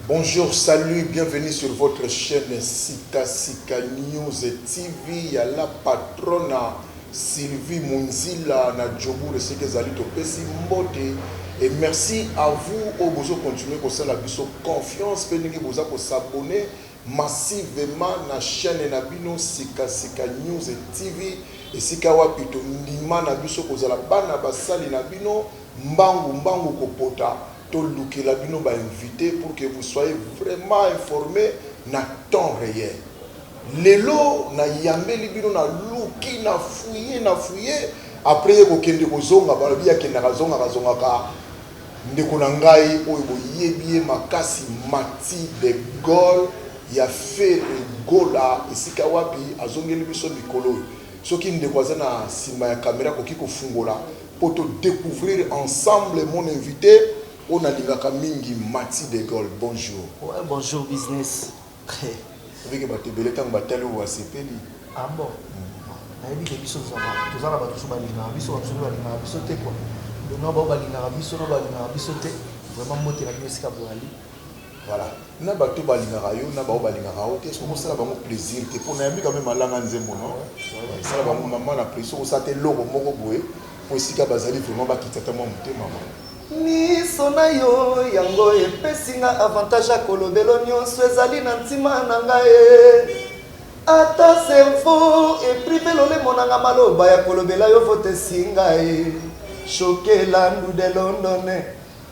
Bonjour, salut, bienvenue sur votre chaîne Sika Sika News TV ya la patrona Sylvie Munzila na Djobour esika ezali topesi mbote et merci à vous oyo bozo continuer kosala biso confiance mpe ndenge boza kosabone massivement na chaine na bino sika sika news TV esika wapi to ndima na biso kozala bana ba sali na bino mbangu mbangu ko pota to lukela bino ba invite pour que vous soyez vraiment informe na temps reel lelo na yambeli bino na luki na fouille na fouille après ye ko kende ko zonga balobi akendaka zongaka zongaka Ndeko na ngai oyo boyebi ye makasi Mathy de Gaulle ya Ferre Gola esika wapi azongeli biso mikolo oyo. Soki ndeko aza na sima ya camera akoki kofungola po to decouvrir ensemble mon invite oyo nalingaka mingi Mathy de Gaulle bonjour. Ouais bonjour business. Avec bato ebele tango batali oyo asepeli. Ah bon nayebi ke biso vraiment toza na bato mosusu balingaka biso ba mosusu nde balingaka biso te quoi donc na bao balingaka biso na balingaka biso te vraiment mbote na bino esika boyali voilà na bato balingaka yo na bao balingaka yo te soki osala bango plaisir te mpo nayambi quand même alanga nzembo no esala bango mama na plaisir soki osala te eloko moko boye mpo esika bazali vraiment bakita ata mwa motema mama Miso na yo yango epesi nga avantage ya kolobelo nionso ezali na ntima na nga eh Ata cerveau e prive lolemo na nga maloba ya kolobela yo vote esi nga eh Choqué Landu de London eh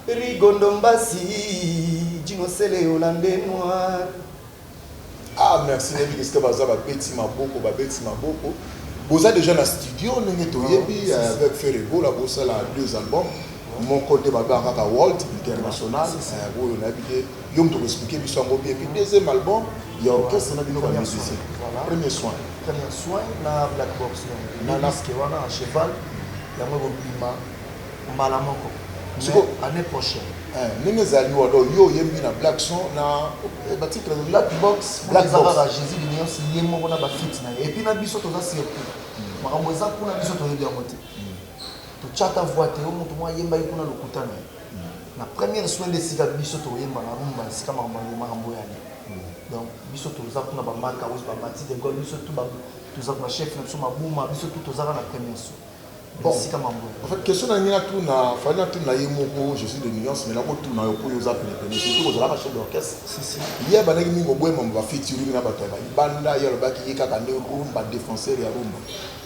Rigo Ndombasi Djino Sele Hollandais noir Ah merci nayebi ke sika baza ba beti maboko ba beti maboko boza deja na studio ndenge toyebi ah, euh, avec Ferre Gola bosala deux albums moko nde babanga kaka World International euh, oyo nayebi te yo moto koexplike biso yango bien puis deuxième album ya orchestre na bino ba musicien premier soin premier soin na black box na naske wana cheval yango ekobima mbala moko siko annee prochaine eh, ndenge ezali wa donc yo oyembi na black son na eh, ba titre black box black box ba Jésus de Nios ye moko na ba fit na et puis na biso toza surpris hmm. makambo eza kuna biso toyebi yango te hmm. to chata voix te mutu mwa yemba ye kuna lokuta na ye hmm. na première soin de sika biso to yemba na rumba sika makambo makambo ya ni donc biso toza kuna ba marka wis ba mati de gol biso tout ba toza ba chef na biso mabuma biso tout toza na première soin Bon, esika mambo. en fait, question na lingi natuna, fallait natuna ye moko, je suis de nuance, mais nakotuna yo mpo yo oza penepene, surtout ozalaka chef d'orchestre. Si, si. Ye abandaki ndenge oboya mambo ba featuring na bato ya ba libanda, ye alobaki ye kaka nde rumba, defenseur ya rumba.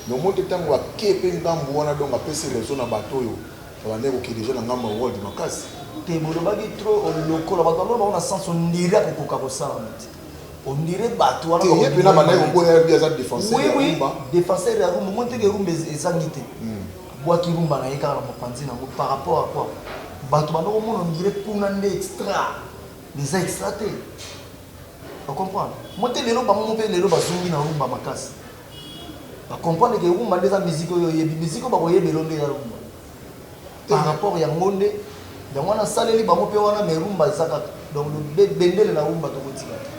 Mais omoni te tango ake mpe ngambo wana, donc apesi raison na bato oyo babandaki koke dejà na ngambo ya world makasi. Te, bolobaki trop lokola bato ya lola bango na sens ondire akokoka kosala yango te. On dirait batu wana ba yebina ba nayo boya ya biaza defenseur ya rumba defenseur ya rumba monte ke rumba ezangi te hmm. bwa ki rumba na ye kaka na mopanzi na ngo par rapport à quoi batu ba noko mona on dirait kuna nde extra eza extra te ba comprendre monte lelo ba mo pe lelo ba zungi na rumba makasi ba comprendre ke rumba nde za musique oyo yebi musique ba ko yebelo nde ya rumba par rapport ya ngo nde yango wana asaleli bango mpe wana mais rumba eza kaka donc bendele na rumba tokotika te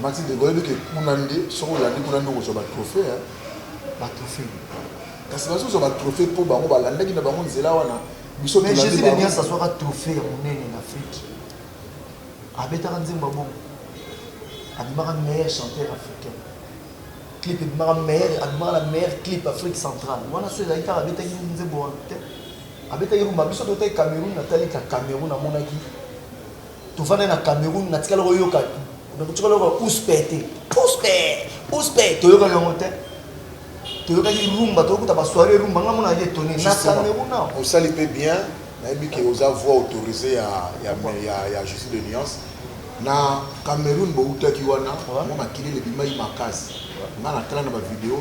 matilde oyebi ke kuna nde soki olandi kuna nde okozwa batrohe batrohe kasi bazozwa batrohe mpo bango balandaki na bango nzela wana biso mais jésus de nias azwaka trohe ya monene na afrique abetaka nzembo ya bongo abimaka meilleur chanteur africain clip ebimaka meilleur abimaka na meilleur clip Afrique centrale wana so ezalaki kaka abetaki nzembo wana te abetaki rumba biso totaki Cameroun natali na Cameroun namonaki tofandaki na Cameroun natikala koyoka nakotikala koyoka uspe te uspe uspe toyokaki yango te toyokaki rumba toyokuta basoire rumba nga mona ye etone na Cameroun osali mpe bien Nayebi ke oza voix autorisee ya ya Jesus de nuance. Na Cameroun bowutaki wana mwa makelele ebimaki makasi. Nga na tala na ba video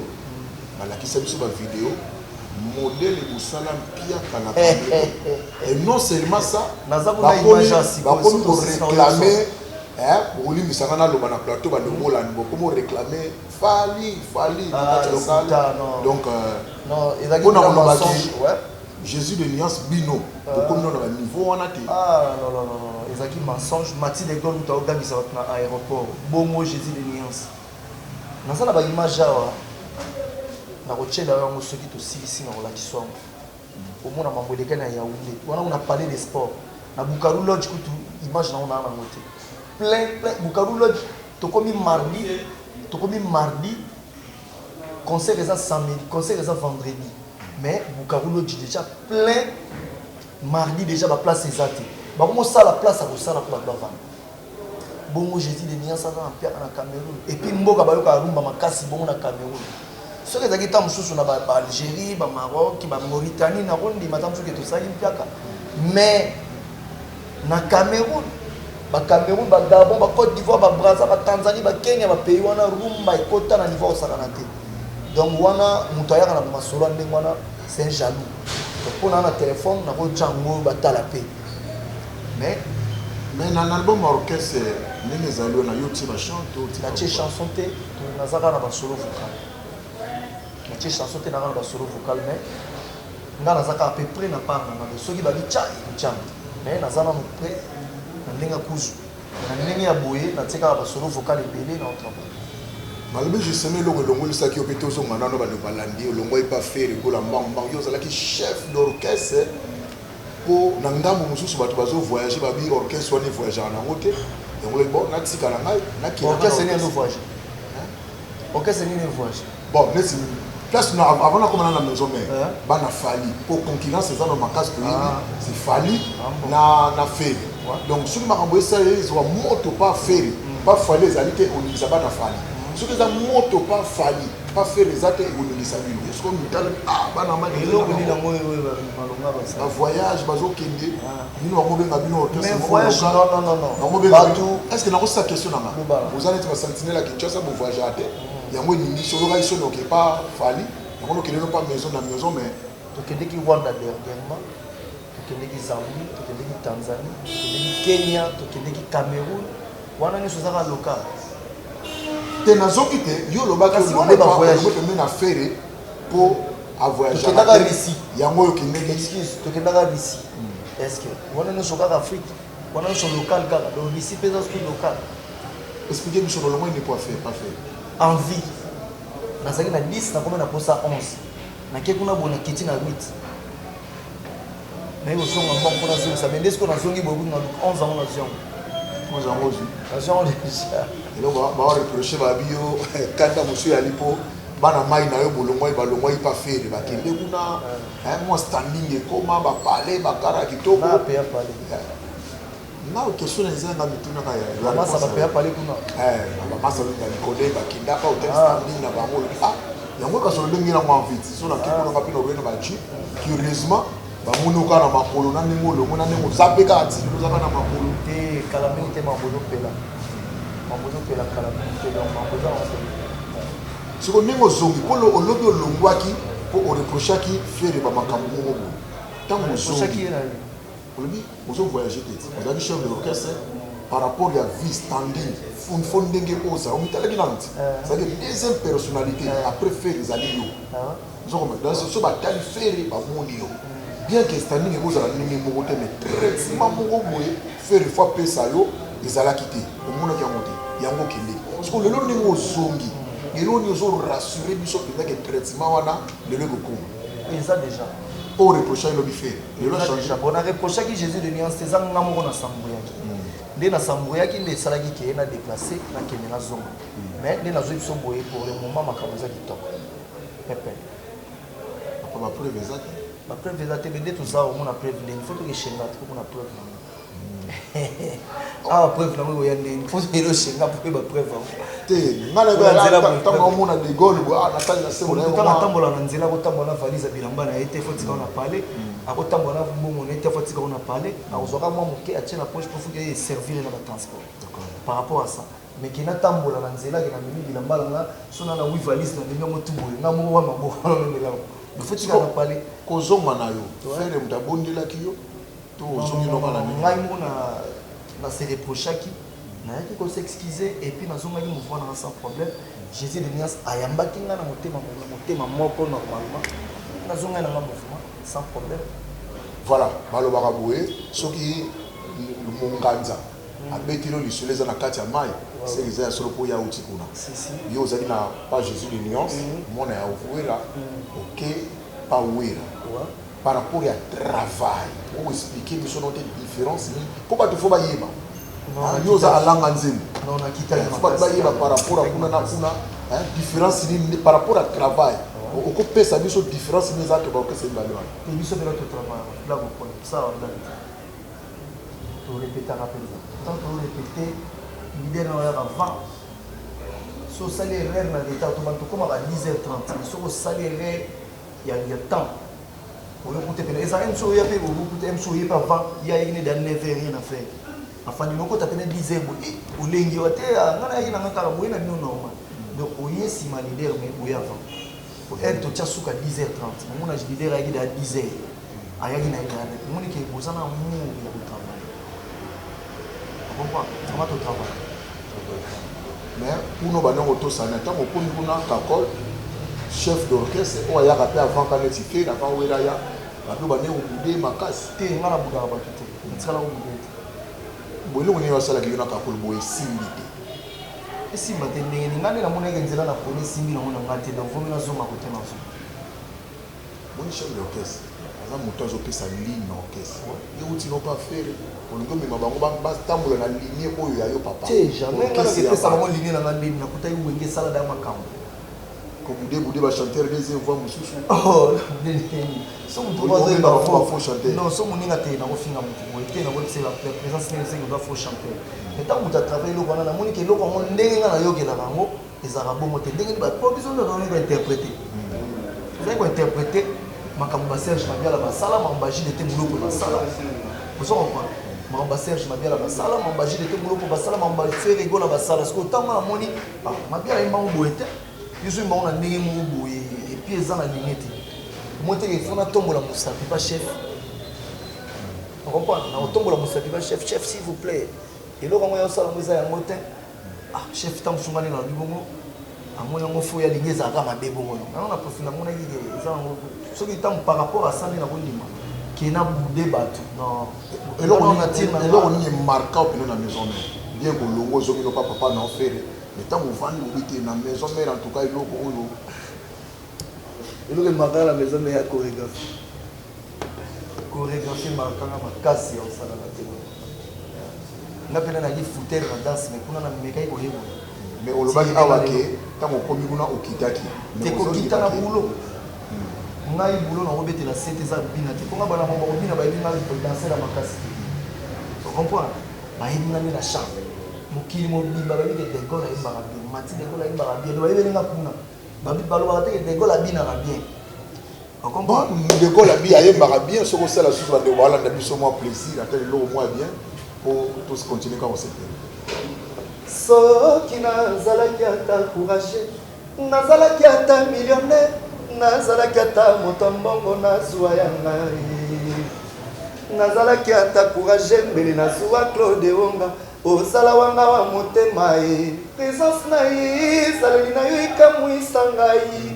balakisa biso ba video modele mosala mpiaka na Cameroun et non seulement ça bakomi ko reclamer bokolimbisa nga naloba na plateau balongolani bokomi oreclame fali fali na kati ya sale donc mpona kolobaki Jesus de nuance bino bokomi nano na niveau wana te. Ah non non non non ezalaki mensonge Maxi de Gaulle mutu aogangisa batu na aeroport bongo Jesus de nuance naza na ba image awa nakotiela yo yango soki tosilisi nakolakisa yango omona mambo elekaki na Yaounde wana kuna palais de sport na Bukaru lodge kutu image nango naa nango te plein plein Bukaru lodge tokomi mardi tokomi mardi Concert eza samedi concert eza vendredi mais bukavu lodge dejà plein mardi dejà ba place eza te bakomo sala place ya kosala po batu bavanda bongo jesus de niance aza na mpiaka na cameroun epuis mboka bayokaka rumba makasi bongo na cameroun soki ezalaki ntango mosusu na baalgérie bamaroc bamauritanie nakondima ntango mosusu ke tosali mpiaka mais Na Cameroun, ba Cameroun, ba Gabon, ba Cote d'Ivoire, ba Brazza, ba Tanzanie, ba Kenya, ba pays wana rumba ekota na niveau ya kosakana te. Donc wana mutu ayaka na ba masolo ya ndenge wana c'est un jaloux. Donc pona na telephone na ko tya ngo batala pe. Mais Mais na album ya orchestre ndenge ezali wana yo otie ba chant to otie na tie chanson te nazaka na ba solo vocal na tie chanson te naka na ba solo vocal mais Nga naza kaka pe pret na part na nga mais soki babi chay ntshamba mais naza nanu pret na ndenge ya kuzu mais na ndenge ya boye na tie kaka ba solo vocal ebele nao travailler. Maloba justement eloko elongolisaki yo pe tozonga nanu batu balandi olongua epa ferre gola mbangu mbangu yo ozalaki chef d'orchestre po na ngambu mususu batu bazo voyager babi orchestre wana e voyagaka na yango te yango olobi bon natikala ngai nakenda nga na orchestre nini ezo voyager? Orchestre nini evuaje? Bon, neti place na avant na koma na maison mère, yeah. bana Fally, ko concurrence eza na makasi to ah. c'est Fally ah, bon. na na Ferre. Ouais. Donc soki makambo esala ezwa moto pas Ferre, mm. pas Fally ezali te olingisa bana Fally. Mm. Soki eza moto pas Fally, pas Ferre eza te ekolingisa bino. Est-ce qu'on mitala ah bana mani eloko nini na moyo oyo malonga ba voyage bazokende. Ah. bino bakobenga bino orchestre moko local bakobenga bino est ce que nakosisa question na ngai boza neti ba sentinelle ya kinshasa bo voyagera te mm. yango elingi solo ngai sono oke pa fali yango nokende no pa maison na maison mais tokendeki rwanda dernièrement tokendeki zambie tokendeki tanzanie tokendeki kenya tokendeki cameroun wana nyonso ezaka local te nazoki te yo olobaki olobepembe na fere po a voyage na Russie yango yo kendeki excuse to kendaka Russie hmm. est-ce que wana no sokaka Afrique wana no so local kaka donc Russie pesa sous local expliquer biso lolongo ni quoi faire pas faire en vie nazali na 10 nakoma na posa 11 nake kuna bona kiti na 8 naye kozonga mbango mpo nazongisa bende sikoyo nazongi boye kutu na luk 11 yango na ziango oza yango ozwi na ziango deja eloko baoreproche babi yo kanda mosu yali mpo bana mai na yo bolongwai balongwai mpa fere bakende eh. kuna eh, mwa standing ekoma bapale bakara kitoko Nao question na eza nga mituna ka ya ba masa ba paya pale kuna eh ba masa ba ndani kode ba kinda ka hotel standing na bango le ah ya ngo kasolo ndenge na mwa vite so na kiko nga pino rena ba chi curieusement ba muno ka na makolo na ndenge lo ngo na ndenge za pe ka ti ko za ka na makolo te kala mingi te makolo pela makolo pela kala mingi te donc makolo za ko siko ndenge ozongi po lo olobi olongwaki po o reprochaki fere ba makambo ngo ngo tango ozongi Olobi ozo voyager te ozalaki chef de l'orchestre par rapport ya vie standing une fois ndenge oza omitalaki nanu ti ezalaki eh. deuxième personnalité eh. après ferre ezali yo eh. ozo comprendre donc so batali ferre bamoni yo bien que standing ekozala ndenge moko te mais traitement moko boye ferre faut apesa yo ezalaki te omonaki yango te yango okendeki soko lelo ndenge ozongi lelo nini ozo rassure biso mpenza ke traitement wana lelo ekokoma Eza dejà o reprocha ye lobi ferre lelo a change. Bon na reprochaki Jesus de nuance te eza nga moko na s'embrouillaki nde na s'embrouillaki nde esalaki que na deplace na kende na zonga mais nde nazui biso boye pour le moment makambo eza kitoko pepe. Papa ba preuve eza te. Ba preuve eza te mais nde toza omona preuve nini faut toke chez nga tokomona preuve nango. awa preuve nango ekoya ndenge mpo lelo senga mpe ba preuve yango te ngai natango omona de gaulle boye ah, natali na sebo nayeotanga atambola na nzela akotambola na valise ya bilamba na ye te fotika ona pale mm. akotambola na mbongo na ye te fotika ona pale akozwaka mwa moke atie na poche mpo foki eye servire na batransport par rapport à ça mais ke natambola na nzela ke namemi bilamba na nga so na na wi valise na memi yango tu boye nga moko wa maboko na memela yango fotika na pale kozonga na yo fere moto abondelaki yo To zongi loba na nini? Ngai moko na na se reprochaki, nayaki ko s'excuser et puis na zongaki mouvement na nga sans problème. Jesus de Nuance ayambaki nga na motema na motema moko normalement, na zongaki na nga mouvement sans problème. Voilà, ba lobaka boye soki monganza abeteli yo lisolo eza na kati ya mayi c'est que eza ya solo po ye awuti kuna. Yo ozali na pa Jesus de Nuance, mwana ya Werra, oke pa Werra. Par rapport ya travail o explique biso no te difference nini po batu faut bayeba yo oza alanga nzembo faut batu bayeba par rapport ya kuna na kuna difference nini par rapport ya travail okopesa biso difference nini eza entre ba orchestre mibale wana te biso mpela totrava bla bokona tosala bla torepetaka mpenza tant torepete lider na oyaka va so osali erreur na retard to bantu okoma ba 10 heures 30 soki osali erreur ya ya temps oyo kuta pena eza MC oyo pe oyo kuta MC oyo pa va ya yine da neve rien à faire afandi noko ta pena disait bo e olengi wa te ah, ngana yina ngaka la boyena bino normal donc oye sima leader mais boya va pour être to tia suka 10h30 mon âge leader ayaki da 10h ayaki na ye tayana omoni ke boza na amour ya kotravaille okomprendre aba totravaille mais kuno bandongo tosana ntango okomi kuna kakol chef d'orchestre oyo ayaka mpe avant ka neti te avant wela ya bato bande kobude makasi te nga na budaka bato te natikala kobude te bo eloko nini basalaki yo na kakol boye esimbi te esimba te ndenge ni nga nde namonaki nzela na poni esimbi nango na nga te donc vomi nazonga kote nazonga Omoni chef d'orchestre aza mutu azo pesa ligne na orchestre ye wuti no pa ferre olingi omema bango ba tambola na ligne oyo ya yo papa te jamais nga na pesa bango ligne na nga nde na kutaki wenge esala da makambu ko bude bude ba chanteur deuxième voix mususu oh so mutu ba zo ba faux chanteur non so muninga te na ko finga mutu boye te na ko tsela la présence nini c'est que ba faux chanteur mais tant mutu a travailler eloko wana na moni ke eloko yango ndenge nga na yokela bango Ezalaka bongo te ndenge ba po biso nde toyebi ko interpreter tozali ko interpreter makambo ba Serge Mabiala basala makambo ba JDT Muloko basala ozo comprendre makambo ba Serge Mabiala basala makambo ba JDT Muloko basala makambo ba Ferre Gola basala sikoyo ntango wana namoni ah Mabiala ayemba yango boye te biso oyemba yango na ndenge moko boye et puis eza na ligne te omoni te ke il faut natombola mosapi ba chef okomprendre nakotombola mosapi ba chef chef s'il vous plaît eloko yango ya osala yango eza yango te Ah chef tango mosusu nga nde nalobi bongo amoni yango fo ye alingi ezala kaka mabe bongo no yango na profi namonaki ke eza yango soki ntango par rapport asa nde nakondima ke na boude bato eloko nini emarka opino na maison mère bien kolongo ozongi loba papa na ofere me ntango ovandi lobi te na maison mère en tout cas eloko oyo eloko emarka na maison mère ya choregraphe choregraphie emarka nga makasi ya mosala na te nga mpe nalaki foutere na danse me kuna namekaki koyekola mais olobaki awa ke ntango okomi kuna okitaki te kokita na boulot ngai bulo na kobetela sete eza bina te mponga bana bango bakobina bayebi ngai kodansela makasi te ocomprendre bayebi ngai nde na charme mokili mobimba bayebi ke degol ayembaka bien mati degol ayembaka bien bayebeli nga kuna balobaka te ke degol abinaka bien Bon, ndeko labi ayembaka bien soki osala susu bandeko balanda biso mwa plaisir ata eloko mwa bien po tous continue kaka kosepela soki nazalaki ata courage nazalaki ata millionnaire nazalaki ata moto mbongo nazwa ya ngai nazalaki ata courage mbele nazwa claude onga osala wanga wa motema ye presence na ye ezaleli na yo ekamwisa ngai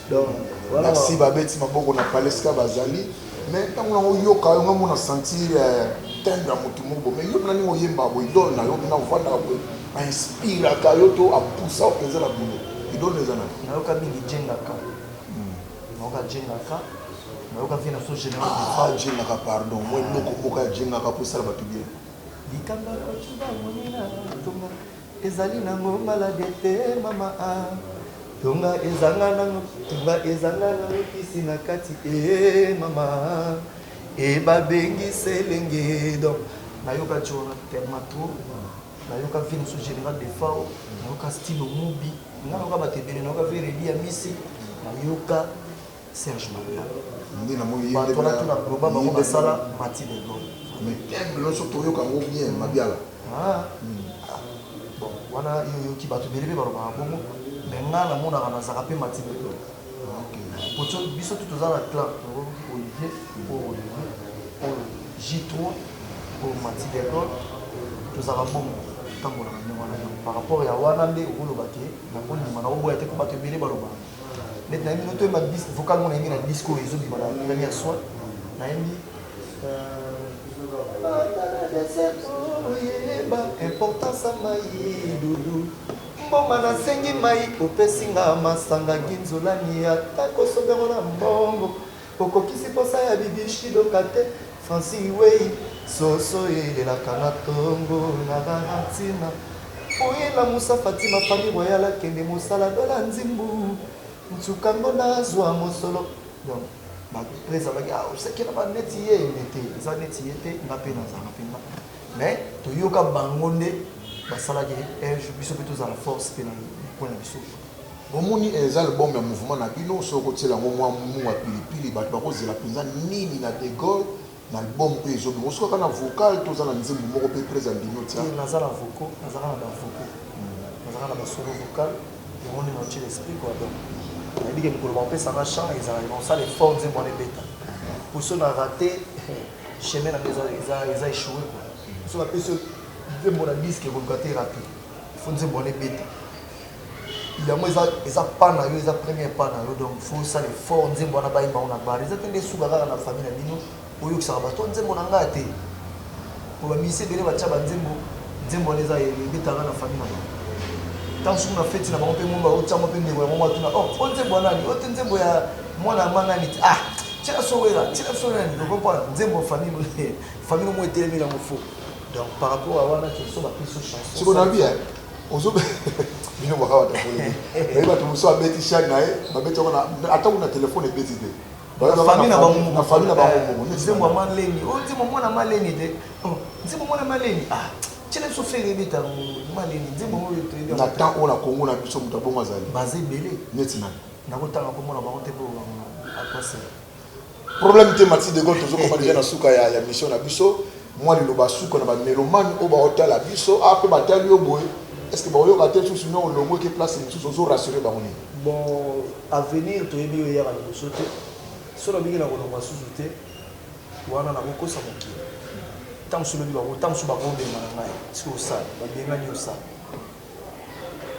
Merci ba beti maboko na paleska bazali mais ntango nango oyoka yo ngambo na sentir euh, tembe ya motu moko bo mais yo mna ndenge oyembaka bo idole na yo mna ofandaka bo ainspiraka yo to apusa yo mpenza na bulo idole na eza na nayoka mingi jengaka hmm. nayoka jengaka nayoka vie na so général ah, jengaka pardon moi eloko moko ya jengaka mpo esala bato bien likanga kocuba monina tonga Ezali nango malade te mama ah Tonga ezanga nango, tonga ezanga nango kisi na kati eh mama ah Et babengi selenge donc nayoka Djora tellement trop nayoka vie mosusu General Defao nayoka Stilo Mubi nga nayoka bato ebele nayoka Veredi Amisi nayoka Serge Magla nde na moni ye nde bana tuna globa bango basala mati de gol mais tembe non so toyoka ngo bien mabiala ah bon wana yo yoki batu bele pe baloba bongo mais nga na monaka na zaka pe mati de gol pocho biso tu toza na clan to olivier po olivier po j3 po mati de gol tozaka bongo tambola na ndenge wana par rapport ya wana nde okoloba ke na kondima na oboya te po batu ebele baloba Net na bino toyemba disque vocal mona yembi na disque oyo ezo bima na première soin na yembi importance ya mai dudu mboma nasengi mai opesi nga masanga ginzolani ata kosombyango na mbongo Okokisi posa ya bibiche doka te Franci weyi soso elelaka na tongo na Larentina Oye lamusa Fatima famille royale akende mosala Bella nzimbu nsuka ngo nazua mosolo Donc ba prez alaki ah osekela ba neti ye mais te eza neti ye te nga pe nazala penza mais toyoka bango nde basalaki un jour biso pe tozala force pe na coin na biso. Bomoni eza album ya mouvement na bino soki okotiela yango mwa mua pilipili batu bakozela penza nini na de Gaulle na album oyo ezobima osuka kaka na vocal to oza na nzembo moko pe Prez andimi otia? Te naza na vocaux naza kaka na ba vocaux naza kaka na ba solo vocal yango nde naotiela esprit quoi donc nayebi ke mokolo bakopesa nga chant ezalaka nakosala effort nzembo wana ebeta po soki na rate chemin na nga eza eza echoue quoi soki bapesi yo nzembo na disque ekoluka te erate faut nzembo wana ebeta yango eza eza pas na yo eza premier pas na yo donc faut osala effort nzembo wana bayemba yango na bar eza te nde esuka kaka na famille na bino oyokisaka bato nzembo na ngai te po bamise ebele batya banzembo nzembo wana eza ebetaka na famille na bango ntango soki na feti na bango mpe mongo baotiango mpe ndeko ya mongo atuna o oh, o nzembo ya nani o te nzembo ya mwana ya ma nani te ah tia sowela tia sowela nini okompona nzembo famille famille omo etelemi na mofo donc par rapport à wana toso bapesi chanson sikonabi ozo bino baka wata polele mais bato mosusu abeti chaine na ye babeti yango ata kuna telefone ebeti te famille na bango na famille na bango moko nzembo ya maleni o oh, nzembo mwana maleni te oh, nzembo mwana maleni ah tiele biso fere ebeta maleni nzembo oyo toyebi na temps oyo na kongo na biso moto abongo azali baza ebele neti nani nakotanga komona bango te mpo akwasela Problème te Mathis de Gaulle tozo koma dejà na suka ya, ya mission na biso mwa liloba suka na ba melomane oyo baotala biso a ah, pe batali yo boye est ce que baoyoka te susu no olongwe ke place mosusu ozo rassurer bango nini bon avenir toyebi yo eyaka liboso te so nabiki na kolongwa susu te wana nakokosa mokili ntango mosusu lobi bango ntango mosusu bakobengana ngai soki osala babengani osala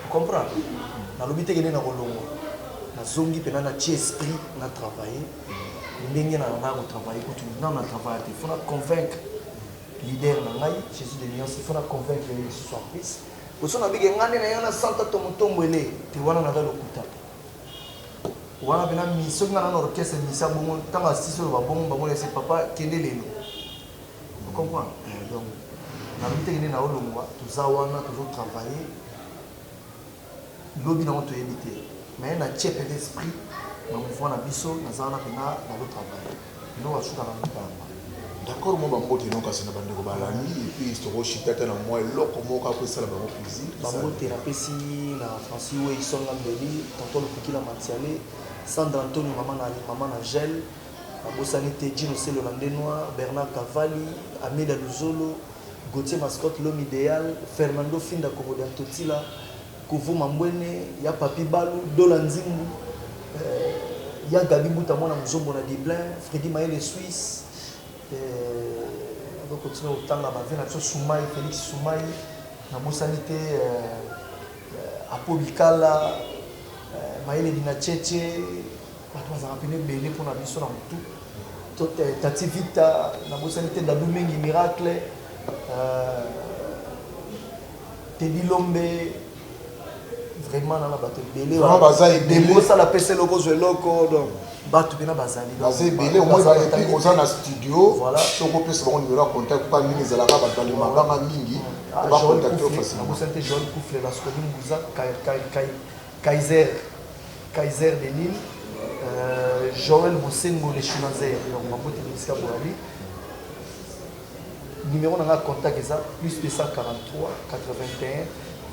O comprendre? Na lobi te ke nde na ko longwa. Na zongi pena na tie esprit na travailler ndenge na lingaka ko travailler kutu nanu na travailla te. Il faut na convaincre leader na ngai Jesus de nuance, il faut na convaincre ye lisusu en plus. Po soki na lobi ke ngai nde na ya na Santa to Mutombwele te wana naza lokuta. Wana pena mi soki ngai na na orchestre musicien bongo tangu asisi oloba bongo ba mona ese papa kende lelo. Vous comprendre? Eeh donc nalobi te que nde nao longwa toza wana tozo travailler lobi nango toyebi te mais na tie penza esprit na mouvement na biso naza wana penza nazo travailler bino ba suka na mboka yango. D'accord mwa ba mbote no kasi na ba ndeko balandi et puis toko chita ata na mwa eloko moko kaka po esala bango plaisir. Ba mbote na pesi na Francis Weyson Lambeli, Tonton Lupikila Matiale, Sandra Antonio mama na mama na Angèle, Nabosani te Djino Cello na Nde Noir, Bernard Cavalli, Amida Luzolo, Gauthier Mascotte, L'homme ideal, Fernando Finda Komodia Ntotila, Kovo Mambwene, Ya Papy Balu, Dola Nzimbu, eh, Ya Gaby Mbuta Mwana Muzombo na Dublin, Freddy Mayele Suisse, eh, ado continue kotanga ba vie na biso Sumai, Felix Sumai, nabosani te eh, Apo Bikala, eh, Mayele Dinacheche, Bato bazalaka pena ebele mpo na biso na motu. Tati Vita, na bosani te Dadou Mengi Miracle, euh, Teddy Lombe, vraiment nana bato ebele vraiment baza ebele osala pesa eloko ozwa eloko donc bato mpena bazali baza ebele omoepi oza na studio soki opesa bango nimero ya contact mpa mingi ezalaka bato bali mabanga mingi bacontacte facilementosante joel kufle la scoline buza kai Kaiser Kaiser de Lille euh, Joël Bosengo le Chinoiser donc maboti na bisika boyali numéro na nga contact eza plus 243 81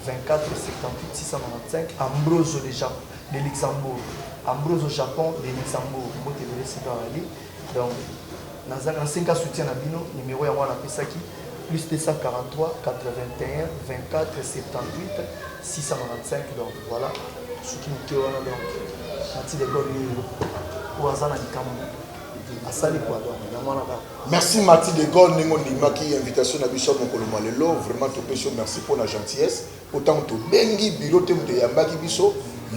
24 78 695 Ambroso de, Jap de Luxembourg Ambroso Japon de Luxembourg mbote ebele sika yali Donc naza na senga soutien na bino numero yango wana napesaki plus 243 81 24 78 695 donc voilà soki moke wana donc nati lekol nini oyo aza na likambo asali kua donc yango wana kaka merci mati de gol ndenge ondimaki invitation na biso ya mokolo mwa lelo vraiment topesi yo merci mpo na gentillesse mpo ntango tobengi bilo te moto eyambaki biso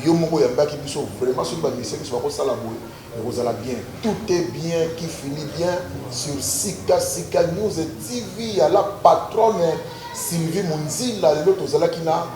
yo moko oyambaki biso vraiment soki bamisie biso bakosala boye Ekozala bien tout est bien qui finit bien sur sika sika news TV ya la patronne Sylvie Munzila lelo tozalaki na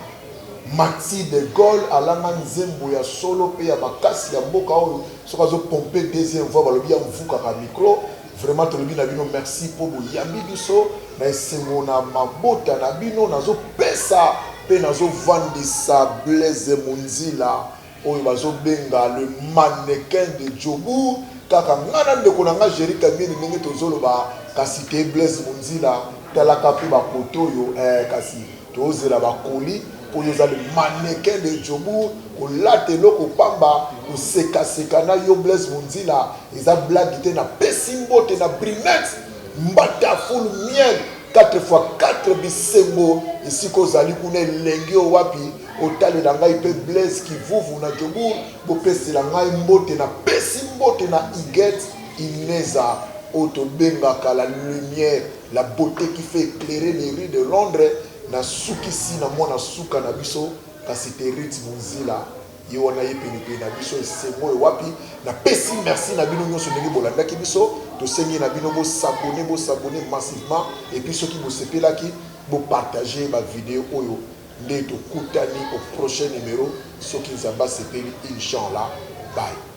Maxi de Gaulle alanga nzembo ya solo pe ya makasi ya mboka oyo soki azo pompe deuxième voix balobi amvukaka micro vraiment tolobi na bino merci po boyambi biso na esengo na mabota na bino nazo pesa pe nazo vandisa Blaise Munzila Oyo bazo benga le mannequin de Joburg kaka nga na ndeko na nga Jerry Kamieni ndenge tozo loba kasi te Blaise Munzila tala ka pe ba poto oyo eh kasi tozo zela ba colis po yo oza le mannequin de Joburg ko lata eloko pamba ko seka seka na yo Blaise Munzila eza blague te na pesi mbote na Brimex mbata full miel Quatre fois quatre bisengo esika ozali kuna elengi oyo wapi otalela ngai pe Blaise kivuvu na Jobourg bopesela ngai mbote na pesi mbote na Huguette Ineza oyo tobengaka la lumière la beaute qui fait eclairer les rues de Londres nasukisi na mwana suka na biso kasi te Ruth Munzila. Ye wana aye penepene na biso. Esengo oyo wapi? Na pesi merci na bino nionso ndenge bolandaki biso. Tosengi na bino bo s'abonner, bo s'abonner massivement et puis soki bosepelaki bo partager ba videos oyo. Nde tokutani au prochain numero soki Nzambe asepeli Inch'Allah. Bye.